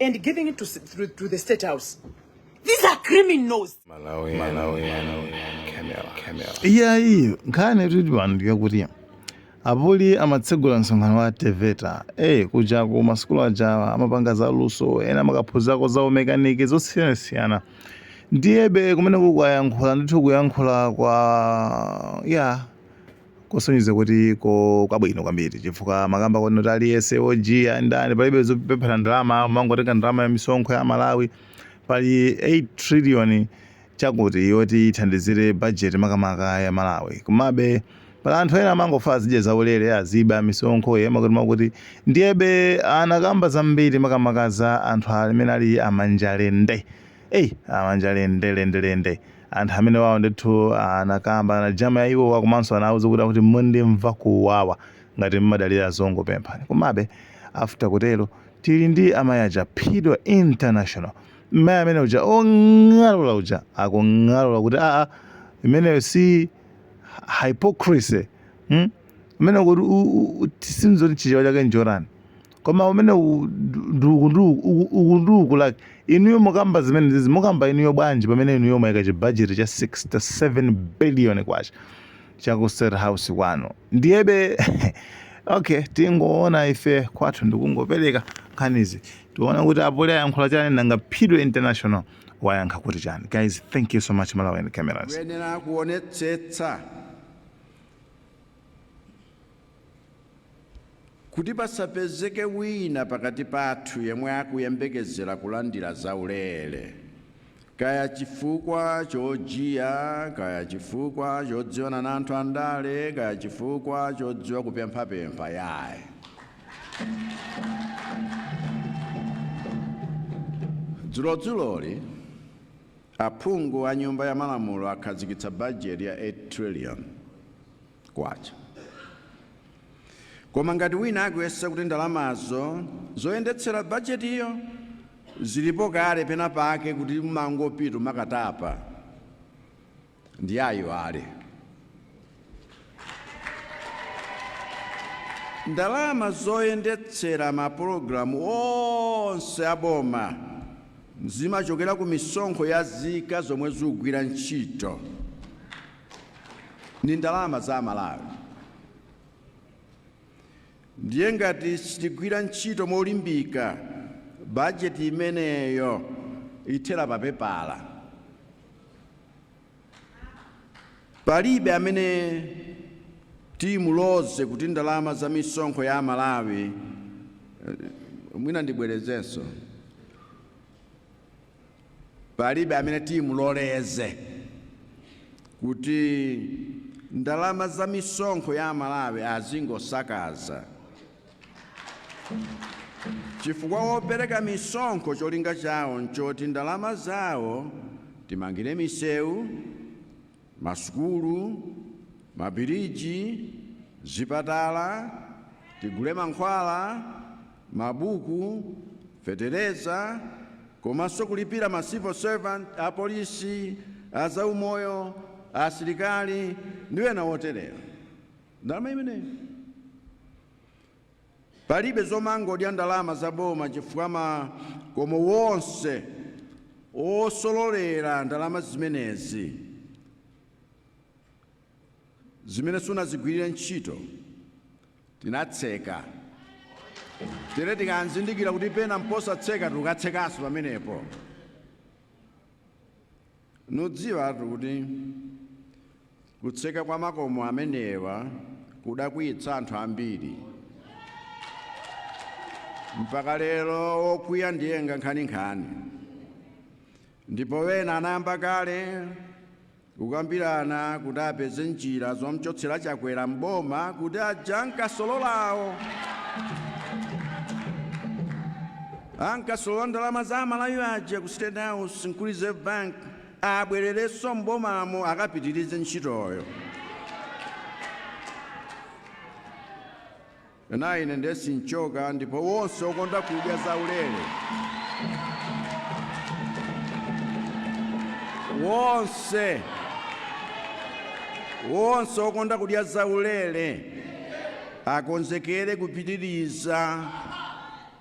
and giving it to, to, to the state house. These are criminals. Malawi, Malawi, Malawi, Kenya, Kenya. iyayi nkhani tili pano ndiyakuti apoli amatsegula msonkhano wa teveta e kuja ku masukulu ajawa amapanga za luso ena amakaphunzako za umekaniki zosiyanasiyana ndiyebe kumene akuyankhula ndithu kuyankhula kwa ya kosonyeza kuti ko kwabwino kwambiri chifukwa amakamba kuti aliyense ojiya ndani palibe zopempha ndalama umangotenga ndalama ya misonkho ya malawi pali 8 trillion chakuti yoti ithandizire budget makamaka ya malawi komabe pali anthu ena amangofuna azidya zaulere azibe misonkho ya makutimakuti ndiyebe anakamba zambiri makamaka za anthu amene ali amanjalende Ei amanjalende lende lende anthu amene wawo ndithu anakamba za njala ya iwowa komanso anawuza kuti akuti mundimve kuwawa ngati mumadalira azungu pemphani komabe after kutero tili ndi amayi aja phidwa international mmayi amene uja ong'alula uja akung'alula kuti aa imeneyo si hypocrisy hmm? imene kuti sindidziwa chichewa chake nchotani koma umene u- ndu- ndi uku ndi uku uku- uku ndi uku like inuyo mukamba zimenezizi mukamba inuyo bwanji pamene inuyo mwaika chibajeti cha 67 billion kwacha cha ku state house kwanu ndiyebe okay tingoona ife kwathu ndikungopereka nkhanizi tiona kuti apoli ayankhula chani nanga phidwe international wayankha kuti chani guys thank you so much malawian cameras kuyenera kuonetsetsa Kuti pasapezeke wina pakati pathu yemwe akuyembekezera kulandira zaulere, kaya chifukwa chojiya, kaya chifukwa chodziwana na anthu andale, kaya chifukwa chodziwa kupemphapempha yayi. Dzulodzuloli, aphungu a Nyumba ya Malamulo akhazikitsa bajeti ya K8 trillion. kwacha. Koma ngati wina akuyesa kuti ndalamazo zoyendetsera bajetiyo zilipo kale penapake kuti mumangopita mukatapa, ndiye aiwale. Ndalama zoyendetsera mapulogalamu onse a boma zimachokera ku misonkho ya zika zomwe zikugwira ntchito. ndi ndalama za Amalawi. Ndiye ngati sitigwira ntchito molimbika, bajeti imeneyo ithera papepala. Palibe amene timuloleze kuti ndalama za misonkho ya Amalawi, mwina ndibwerezenso, Palibe amene timuloleze kuti ndalama za misonkho ya Amalawi azingosakaza chifukwa opereka misonkho cholinga chawo n'choti ndalama zawo timangire misewu, Masukulu, mabiriji, zipatala, tigule mankhwala, mabuku, fetereza komanso kulipira ma civil servant, apolisi, azaumoyo, asilikali ndi ena oterewa. Ndalama imeneyi. Palibe zomangodya ndalama za boma chifukwa makomo wonse osololera ndalama zimenezi zimene sunazigwirire ntchito tinatseka. Tere tikanzindikira kuti pena mposatseka tikatsekanso pamenepo. Ndidziwatu kuti kutseka kwa makomo amenewa kudakwiyitsa anthu ambiri. Mpaka lero wokwiya ndiye ankhaninkhani. Ndipo wena anayamba kale kukambirana kuti apeze njira zomchotsera Chakwera m'boma kuti aja ankasololawo Ankasolola ndalama za amalawi aja ku state house ndi ku reserve bank abwerereso m'bomamo akapitirize ntchitoyo. Nayi ine nde sinchoka ndipo wonse okonda kudya za ulere. Wonse. Wonse okonda kudya za ulere akonzekere kupitiriza.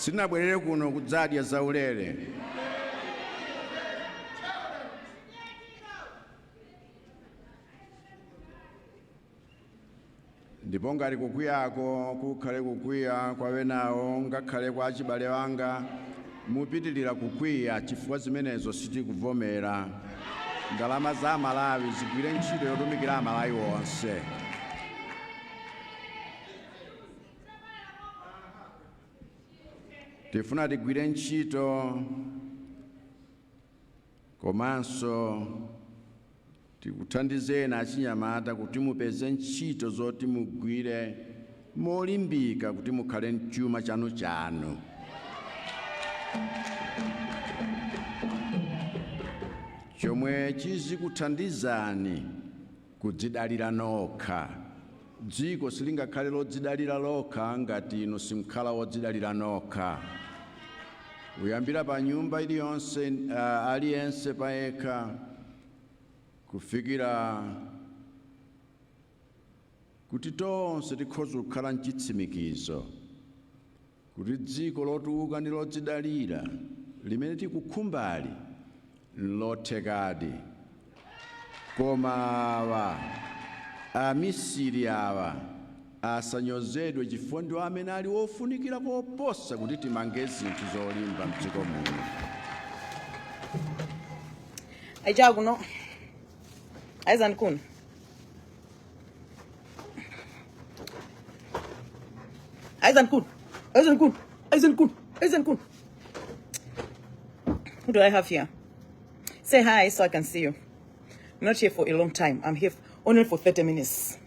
sitinabwerere kuno kudzadya zaulere ndipo ngati kukwiyako kukhale kukwiya kwa wenawo ngakhale kwa achibale anga mupitirira kukwiya chifukwa zimenezo sitikuvomera ndalama za amalawi zigwire ntchito yotumikira amalawi onse tifuna tigwire ntchito komanso Tikuthandizeni achinyamata kuti mupeze ntchito zoti mugwire molimbika kuti mukhale n'chuma chanuchanu. chomwe chizikuthandizani kudzidalira nokha. Dziko silingakhale lodzidalira lokha ngati inu simkhala odzidalira nokha. Kuyambira pa nyumba iliyonse, a, aliyense payekha, kufikira kuti tonse tikhoze kukhala nchitsimikizo. kuti dziko lotukuka ndi lodzidalira limene tikukhumbali n'lothekadi. Koma awa, amisiri awa, asanyozedwe chifukwa ndiwo amene ali ofunikira koposa kuti timange zinthu zolimba m'dziko muno. Aichakuno. Aizandikuni. Aizen Kun. Aizen Kun. Aizen Kun. Aizen Kun. Who do I have here? Say hi so I can see you. I'm not here for a long time. I'm here only for 30 minutes.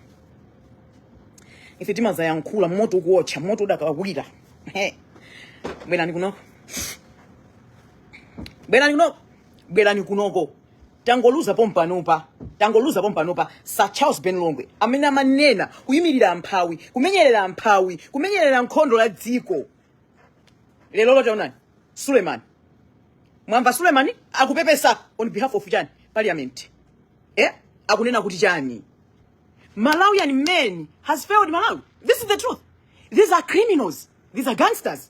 If it is a young cooler, moto watch, moto da kawira. Hey. Bwelani kunoko. Bwelani kunoko. Bwelani kunoko. tangoluza pompanopa tangoluza pompanopa sir charles ben longwe amene amanena kuimirira amphawi kumenyerera amphawi kumenyerera nkhondo la dziko lero lotaonani suleman mwamva suleman akupepesa on behalf of chani parliament eh? akunena kuti chani malawian man has failed malawi this is the truth these are criminals these are gangsters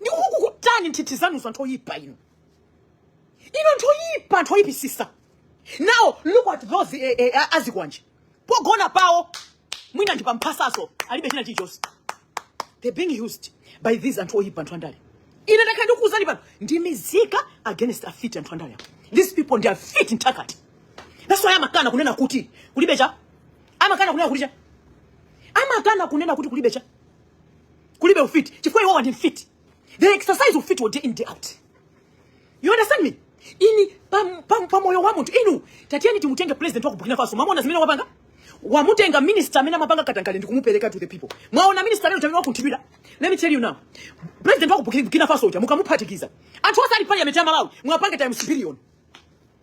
ndikukukutani nthithi zanuzo anthu oyipa inu ino anthu oyipa anthu oyipisisa now look at those eh, eh, a- azikwanje pogona pawo mwina ndi pamphasaso alibe china chilichonse they being used by these anthu oyipa anthu andale ine ndakhala ndikuuzani pano ndi mizika against afiti anthu andale apo these people ndi afiti nthakati that's why amakana kunena kuti kulibe cha amakana kunena kuti cha amakana kunena kuti kulibe cha kulibe ufiti chifukwa iwowa ndi mfiti they exercise ufiti wa day in day out you understand me inu pam- pam- pamoyo wa munthu inu tatiyeni timutenge president wa ku burkina faso mwaona zimene wapanga wamutenga minister amene amapanga katangale ndi kumupereka to the people mwaona minister lero amene wakunthidwira let me tell you now president wa ku Burkina- burkina faso uja mukamuphatikiza anthu osali parliament ya malawi mwapanga times billion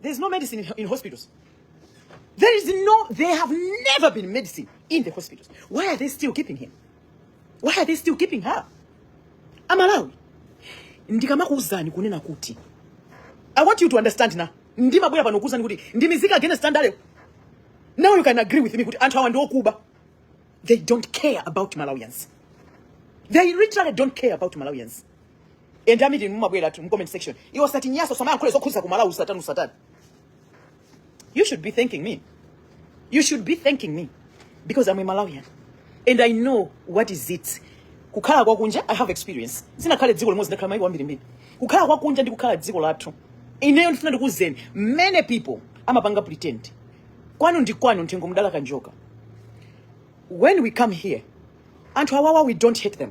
There's no medicine in, in hospitals. There is no, there have never been medicine in the hospitals. Why are they still keeping him? Why are they still keeping her? Amalawi, ndikamakuuzani kunena kuti. I want you to understand now. Ndimabwera pano kuuzani kuti ndimizika against standard. Now you can agree with me kuti anthu awa ndi okuba. They don't care about Malawians. They literally don't care about Malawians. and am mumabweratu mu comment section iwo sati nyaso samayankhula zokhudza ku malawi usatani usatani you should be thanking me you should be thanking me because i'm a malawian and i know what is it kukhala kwa kunja i have experience sinakhale dziko limodzi ndakhala maiko ambirimbiri kukhala kwa kunja ndi kukhala dziko lathu ineyo ndifuna ndikuuzeni many people amapanga pretend kwanu ndi kwanu nthengo mdala kanjoka when we come here anthu awawa we don't hate them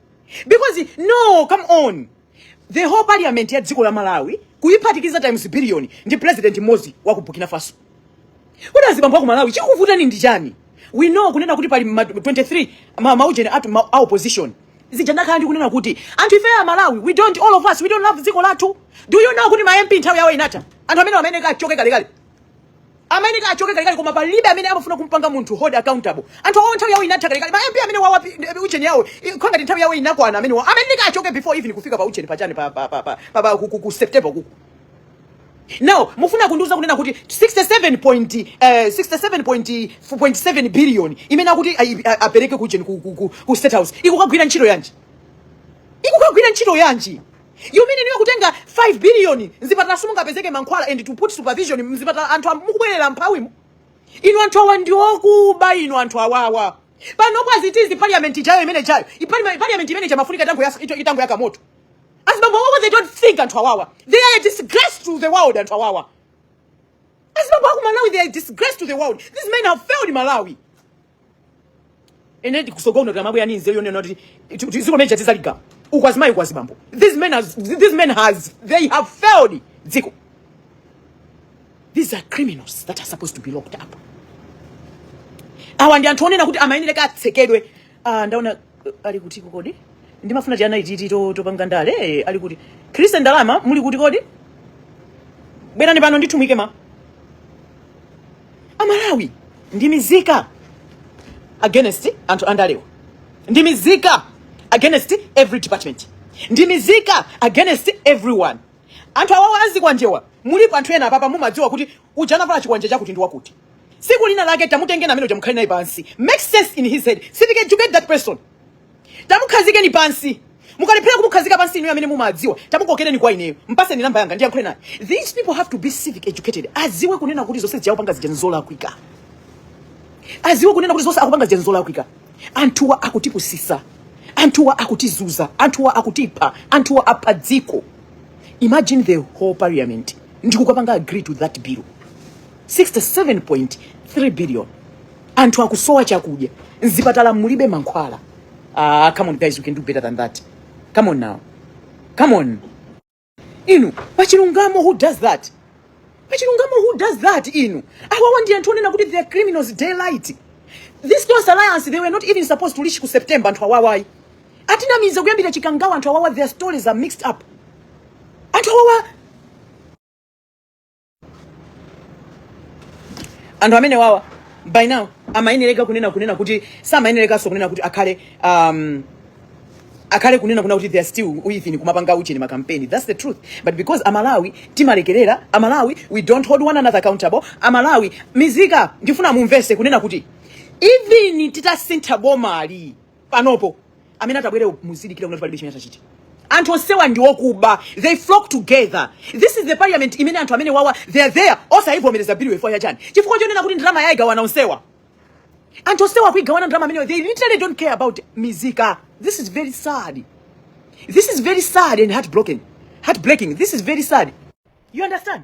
because no come on the whole parliament ya dziko la malawi kuyiphatikiza times billion ndi president mmodzi wa ku burkina faso kodi azibambo aku malawi chikuvutani ndi chani we know kunena kuti pali ma- 23 ma- maujeni atu ma- a opposition zija ndakhala ndi kunena kuti anthu ife a malawi we don't all of us we don't love dziko lathu do you know kuti ma mp nthawi yawo inatha anthu amene amayeneka achoke kalekale amayeneka achoke kalekale koma palibe amene amafuna kumpanga munthu hold accountable anthu awo nthawi yawo inatha kalekale ma mp amenewawa ujeni yawo i- kwa ngati nthawi yawo inakwana amenewa amayeneka achoke before even kufika pa ujeni pachani pa pa pa pa, pa, pa ku, ku, ku september kuku now mufuna kundiuza kunena kuti 67 point, eh, 67 point, 4.7 billion imene akuti ayi- a- apereke ku ujeni ku, ku, ku, ku state house ikukagwira ntchito yanji ikukagwira ntchito yanji You mean iwo kutenga 5 billion mzipatala simungapezeke mankhwala and to put supervision mzipatala anthu am- mobwerera mphawimu inu anthu awa ndi okuba inu anthu awawa pano kwazitizi parliament ijayo imene ijayo Ipalima- parliament imene ija imafunika itangoyas- ito- itangoyaka moto azibambo awawa they don't think anthu awawa they are a disgrace to the world anthu awawa azibambo aku malawi they are a disgrace to the world these men have failed malawi and then kutsogoloku ndimabwera ndi nzeru yonena kuti ti- ti- dziko lija tizaligawa uku azimayi uku azibambo these men has, these men has they have failed dziko these are criminals that are supposed to be locked up awa ndi anthu onena kuti amayeneleka atsekedwe ah, ndaona ali kuti kodi ndimafuna tiana ititi to- topanga ndale eh, ali kuti christian ndalama muli kuti kodi bwerani pano ndikumwike ma amalawi ndi mizika against anthu andalewa ndi mizika against every department ndi mizika against everyone anthu awawa azikwanjewa mulipo anthu ena apapa mumadziwa kuti uja anavala chikwanje chakuti ndi wakuti tsiku lina lake tamutengeni amene uja mukhale naye pansi make sense in his head civic educate that person tamukhazikeni pansi mukalephera kumukhazika pansi inuyo amene mumadziwa tamukokereni kwa ineyo mpaseni namba yanga ndiyankhule naye these people have to be civic educated aziwe kunena kuti zonse zija akupanga zija nzolakwika aziwe kunena kuti zonse akupanga zija nzolakwika anthuwa akutipusisa anthuwa akutizunza anthuwa akutipha anthuwa apha dziko imagine the whole parliament ndi kukapanga agree to that bill 67.3 billion anthu akusowa chakudya mzipatala mulibe mankhwala ah, come on guys you can do better than that come on now come on inu pachilungamo who does that pachilungamo who does that inu awawa ndi anthu onena kuti they are criminals daylight this close alliance they were not even supposed to reach ku september anthu awawayi atinamiza kuyambira chikangawa anthu awawa their stories are mixed up anthu awawa anthu amenewawa by now amayenereka kunena kunena kuti samayenerekanso kunena kuti akhale um, akhale kunena kunena kuti they are still within kumapanga ujeni makampeni that's the truth but because amalawi timalekerera amalawi we don't hold one another accountable amalawi mizika ndifuna mumvese kunena kuti even titasintha bomali panopo amene atabwere muzidikira kunena kuti palibe chimene atachite anthu onsewa ndi okuba they flock together this is the parliament imene anthu amenewawa they are there osayivomereza bill ifuwa ya chani chifukwa chonena kuti ndalama ayigawana onsewa anthu onsewa kuyigawana ndalama imeneyi they literally don't care about mizika this is very sad this is very sad and heartbroken heartbreaking this is very sad you understand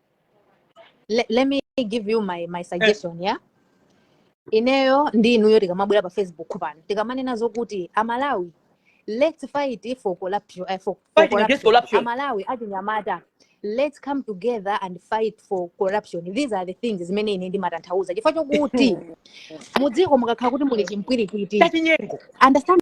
let, let me give you my, my eh. suggestion yeah ineyo ndi inuyo tikamabwera pa facebook pano tikamanena zokuti amalawi let's fight for corruption, uh, fight against corruption. amalawi achinyamata let's come together and fight for corruption these are the things zimene ine ndimatanthauza chifukwa chokuti mudziko mukakhala kuti muli chimpwirikiti understand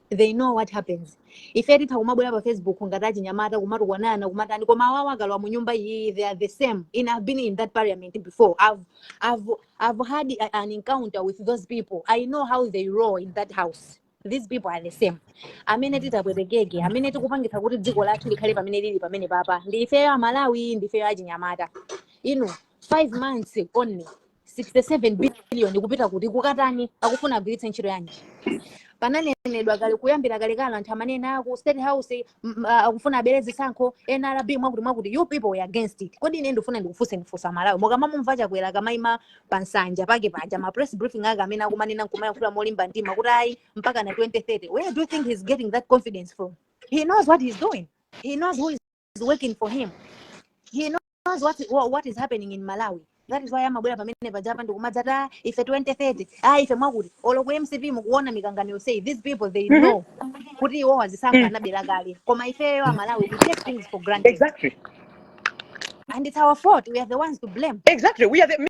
they know what happens ife titha kumabwera pa facebook ngati achinyamata kumatukwanana kumatani koma awawa akalowa mu nyumba iyi they are the same and i've been in that parliament before i've, I've, I've had a- an encounter with those people i know how they roll in that house these people are the same amene titapwetekeke amene tikupangitsa kuti dziko lathu likhale pamene lili pamenepapa ndi ifeyo amalawi ndi ifeyo achinyamata inu 5 months only 67 billion kupita kuti kukatani akufuna agwiritse ntchito yanji pananenedwa kale kuyambira kalekale anthu amanena aku state house akufuna abere zisankho nrb mwakuti mwakuti you people were against it kodi ine ndifuna ndikufunse ndifunse amalawi mukamamumva chakwera akamaima pa nsanja pake paja ma press briefing ake amene akumanena nkumayankhula molimba mtima kuti ayi mpaka na 2030 where do you think he's getting that confidence from he knows what he's doing he knows who is is working for him he knows what, what is happening in malawi that is why amabwera pamene pajapa ndi kumadzati ife 2030 ah ife mwakuti olo ku mcp mukuona mikangano yonseyi these people they mm-hmm. know kuti iwowa zisankho mm. anabera kale koma ifeyo amalawi we take things for granted exactly and it's our fault we are the ones to blame exactly we are the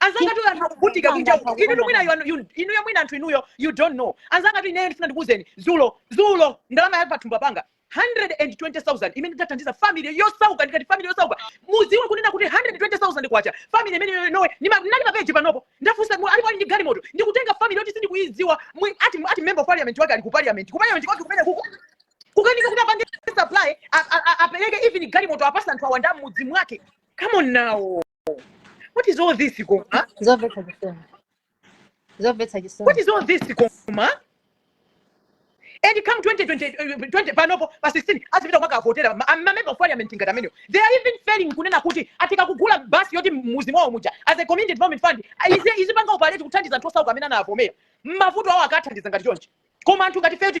anzangatu anthu akuvutika kunja uko inu mwina you are- you- inuyo mwina anthu inuyo you don't know anzangatu ineyo ndifuna ndikuuzeni dzulo dzulo ndalama ya pathumba panga 120000 imene ndathandiza family yosauka ndikati family yosauka mudziwe kunena kuti 120000 kwacha family imene ino- inowe ndima- ndinali mapeji panopo ndafunsa mu- alipo ali ndi galimoto ndikutenga family yoti sindikuyidziwa mwi- ati ati member of parliament wake ali ku parliament ku parliament kwake kumene kuko kukanika kuti apange supply a- a- a- apereke even galimoto apatsa anthu awanda m'mudzi mwake come on now what is all this koma zomvetsa chisoni zomvetsa what chisoni is all this koma and come 2020 eh, 20 panopo pa 16 azipita kukavotera ma ma member of parliament ngati amenewo they are even failing kunena kuti angokagula basi yoti m'mudzi mwawo muja as a community development fund ah, izi izipanga operate kuthandiza anthu osauka amene anavomera mavuto awo akathandiza ngati chonchi koma anthu ngati ifeyo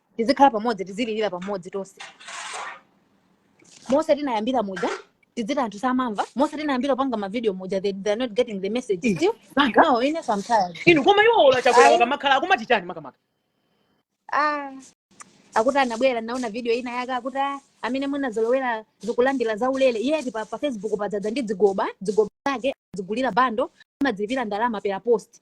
tizikhala pamodzi tizililira pamodzi tonse mose tinayambira muja tidziti anthu samamva mose tinayambira kupanga mavideo muja they, they're not getting the message Eh, still Manga. no ine so I'm tired inu koma iwo ola chakwera Ayi. wakamakhala akumati chani makamaka ah akuti anabwera ndinaona video ina yake akuti ah, amene munazolowera ndikulandira za ulere yeti pa, pa facebook padzadza ndi zigoba zigoba zake zimagulira bundle amadzilipira ndalama per post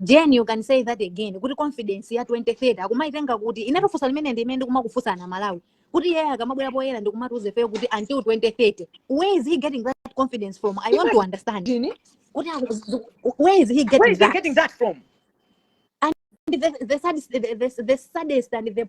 jen you can say that again kuti confidence ya 2030 akumayitenga kuti ine funso limene ndi imene ndikumakufunsani a malawi kuti iye akamabwera poyera ndikumatiuza ifeyo kuti until 2030 where is he getting that confidence from i want to understand kuti where is he getting, where is he that? getting that from and the, the, saddest, the, the, the saddest and the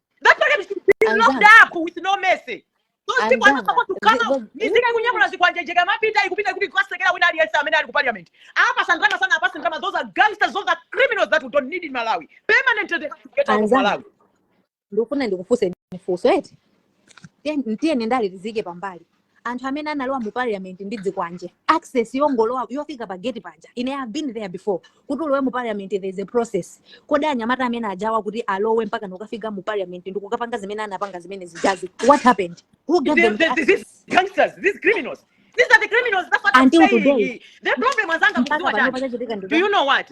That parliament should be locked up with no mercy. Those people are not supposed to come out. Nizike kunyamula zikwanje kumapita nkupita kukatsekera wina aliyense amene ali ku parliament. Apa sangana sana apa sangana those are gangsters those are criminals that we don't need in Malawi. Permanently they have to get out of Malawi. Ndikufuna ndikufunse funso eti. Ndiye ndiye ndale tiyike pambali. anthu amene analowa mu parliament ndi zikwanje access yongolowa yofika pa gate paja ine I have been there before kuti ulowe mu parliament there is a process kodi anyamata amene ajawa kuti alowe mpaka kukafika mu parliament ndi kukapanga zimene anapanga zimene zijazi what happened who gave them the access these gangsters these criminals These are the criminals. That's what Until I'm saying. Today. The problem is anger. Do you know what?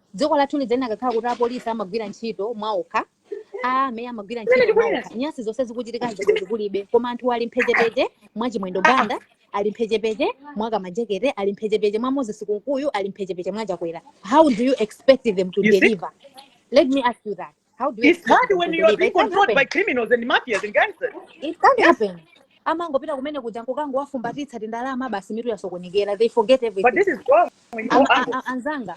dziko lathu likanakhala kuti apolisi amagwira ntchito mwaokha ame amagwira Kumene ntchito ndikubwera. mwaokha nyasi zonse zikuchitika zi kulibe koma anthu ali mphechepeche mwa chimwendo banda ali mphechepeche mwa kamajekete ali mphechepeche mwa moses kunkuyu ali mphechepeche mwa chakwera how do you expect them to You see? deliver let me ask you that how do you it's expect hard them when to you are deliver being it can't controlled by happen criminals and mafias and gangsters it can't yes happen amangopita kumene kuja nkukangowafumbatitsa tindalama basi mitu yasokonekera they forget but everything this is wrong when you Am- go a- out a- anzanga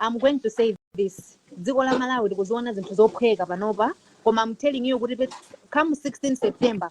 i'm going to say this dziko la malawi tikuziona zinthu zophweka panopa koma i'm telling you kuti pet- come 16 september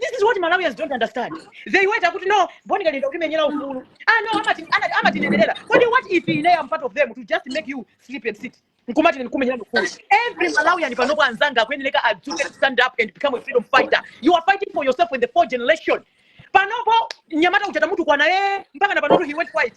this is what malawians don't understand they wait akuti no bon kalindo akutimenyera ufulu ah no amati- ana- amatimenyera kodi what if ine I'm part of them to just make you sleep and sit nkumati ndikumenyera ufulu every malawian panopo anzanga akuyenereka adzuke to stand up and become a freedom fighter you are fighting for yourself and the fourth generation panopo nyamata uchata mutu kwana ye mpaka na panopo he went white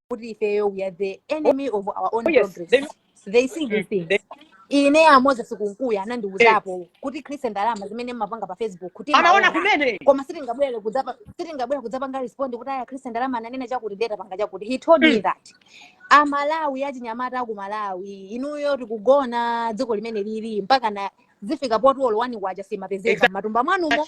kuti ifeyo we are the oh, enemy of our own oh, yes. progress they, they see these mm, things ine a Moses Kunkuyu anandiuzapo eh. kuti Chris ndalama zimene mmapanga pa facebook kuti anaona kumene koma sitingabwere kudzapa sitingabwere kudzapanga respond kuti aya Chris ndalama ananena chakuti ndiye tapanga chakuti he told me mm. that amalawi achinyamata aku malawi inuyo tikugona dziko limene lili mpaka na zifika poti olo wani kwacha simapezeka exactly. mmatumba mwanumo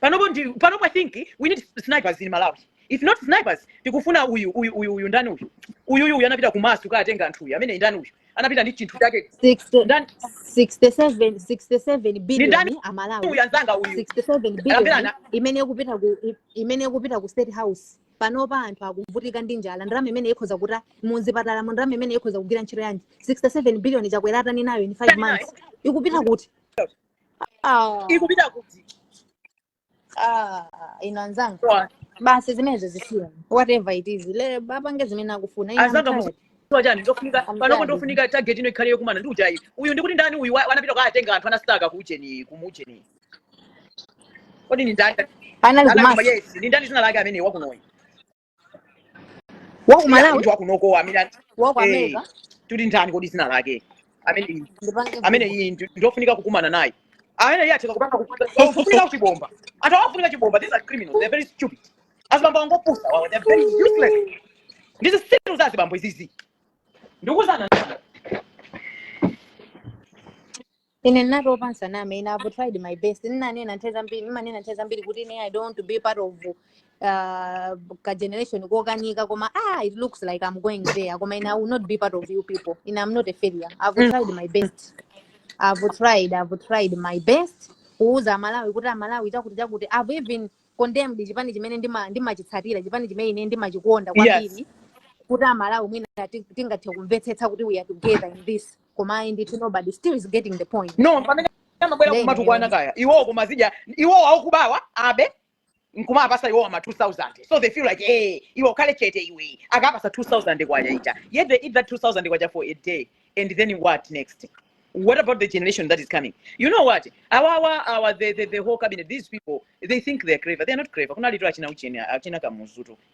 panopo ndi panopo i think we need snipers in malawi if not snipers tikufuna uyu uyu uyu uyu ndani uyu uyu uyu uyu anapita kumasu kukatenga anthu uyu amene ndani uyu anapita ndi chinthu chake 60 ndani 67 67 ndi ndani billion uyu amalawi anzanga uyu 67 amene billion ana imene ikupita ku i- imene ikupita ku state house panopa anthu akuvutika ndi njala ndalama imene ikhoza kuta muzipatalamu ndalama imene ikhoza kugwira ntchito yanji 67 billion chakwera atani nayo in 5 months ikupita kuti Ah, ikupita kuti ah, inu anzanga Kwa- basi zimenezo zisiya whatever it is ile apange zimene akufuna ine I'm anzanga tired. mudziwa chani ndofunika I'm panopo tired. ndofunika target ino ikhale yokumana ndi ujeni uyu ndikuti ndani uyu wa- anapita kukatenga anthu anasitaka kuujeni kumuujeni kodi ndi ndani anali anali kumasa koma yes ndi ndani dzina lake amene wakunoyu wa ku malawi munthu wakunokowa amene an- wa ku eh, america uli ndani kodi dzina lake amene ndipange amene vuto iyi ndi- ndiofunika kukumana naye amene iye atheka kupanga kupanga so ofunika kuchibomba anthu awa afunika chibomba these are criminals they're very stupid azibambo opusa awawa they're very useless ndi zitsiru za azibambo izizi ndikuuzani ine ndinatopa ndisaname ine i've tried my best ndinanena nthawi zambiri ndimanena nthawi zambiri kuti ine i don't want to be part of uh, ka generation kokanika koma ah it looks like i'm going there koma ine i will not be part of you people ine i'm not a failure i've Mm. tried my best i've tried i've tried my best kuuza amalawi kuti amalawi chakuti chakuti i've even condemned chipani chimene ndima- ndimachitsatira chipani chimene ine ndimachikonda yes kwambiri kuti amalawi mwina ti- tingathe kumvetsetsa kuti we are together in this koma ayi ndithu nobody still is getting the point no pamene amabwera nde kumatukwana ineyo kaya iwowo kumadya iwowo akubawa abe nkumapasa iwowo ma 2000 so they feel like eh iwe ukhale chete iwe akakupasa 2000 kwacha eti yet they eat that 2000 kwacha for a day and then what next what about the generation that is coming you know what our our, our the, the, the whole cabinet these people they think they're clever they're not clever kunalitu achina ujeni achina kamuzutu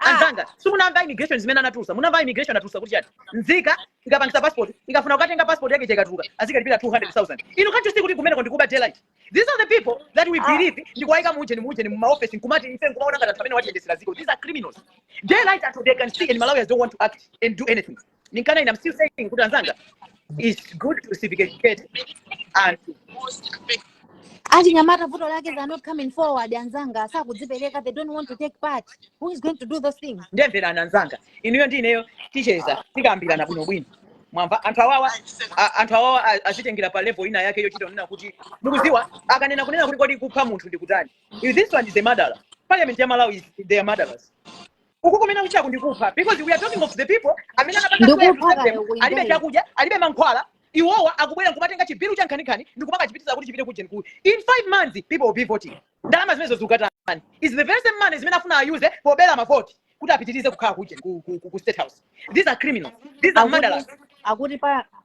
Ah, anzanga simunamva immigration zimene anatulusa munamva immigration anatulusa kuti chani nzika ikapangisa passport ikafuna kukatenga passport yake ikatuluka azikalipira 200000 inu can't you see kuti kumeneko ndikuba daylight these are the people that we ah, believe ndikuwayika muujeni muujeni mumaofesi nkumati ife nkumaona ngati anthu amene atiyendesera dziko these are criminals daylight anthu they can see and malawians don't want to act and do anything ninkana ina I'm still saying kuti anzanga it's good to civic educate achinyamata vuto lake they are not coming forward anzanga sakudzipereka they don't want to take part who is going to do those things ndiye mverani anzanga inuyo ndi ineyo ticheza tikambirana bwinobwino mwamva anthu awawa azitengera pa level ina yake yochita kunena kuti mukuziwa akanena kunena kuti kodi kupha munthu ndi kutani If this one is a murderer parliament ya malawi is they are murderers uku kumene kuchitaku ndi kupha because we are talking of the people amene anapanga swear to serve them kaya uku alibe chakudya alibe mankhwala iwowa akubwera nkumatenga chi bill cha nkhaninkhani ndikumakachipitiza kuti chipite kujeni ku in five months people will be voting ndalama zimenezo zikukatani is the very same money zimene afuna ayuze pobera mavoti kuti apitirize kukhala kujeni ku, ku, ku, ku state house these are criminals these are murderers akuti pa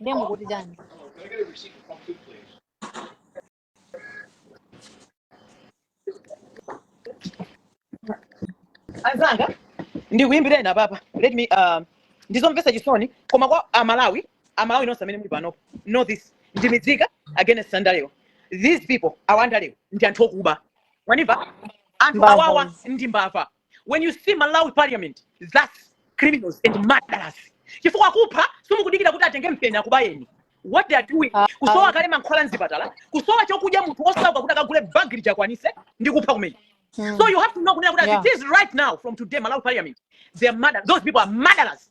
Ndiye mukuti chani? Anzanga, ndikuyimbirani apapa. Let me um ndizomvesa chisoni koma kwa Amalawi, Amalawi nonse amene muli panopo. Know this. Ndimidzika against andalewa. These people awa andalewa ndi anthu okuba. Mwandimva? Anthu awawa ndi mbava. when you see malawi parliament thats criminals and murderers chifukwa kupha simukudikira kuti atenge mpeni akubayeni what they are doing Ah, kusowa kale mankhwala mzipatala kusowa chokudya munthu osowa kuti akagule bag liti akwanitse ndi kupha kumene so mm, you have to know kunena kuti as it is right now from today malawi parliament they are murder those people are murderers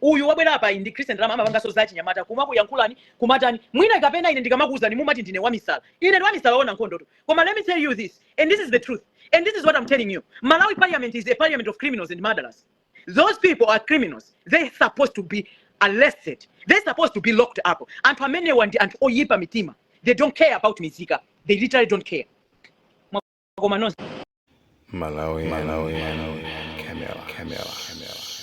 uyu wabwera apayi ndi christian amapanganso za achinyamata kumakuyankhulani kumatani mwina kapena ine ndikamakuwuzani mumati ndine wamisala ine ndi wamisala oona nkhondotu koma let me tell you this and this is the truth and this is what i'm telling you malawi parliament is a parliament of criminals and murderers those people are criminals they supposed to be arrested they supposed to be locked up anthu amenewa ndi anthu oyipa mitima they don't care about mizika they literally don't care koma nonse Malawian, Malawian, Camilla, Camilla, Camilla.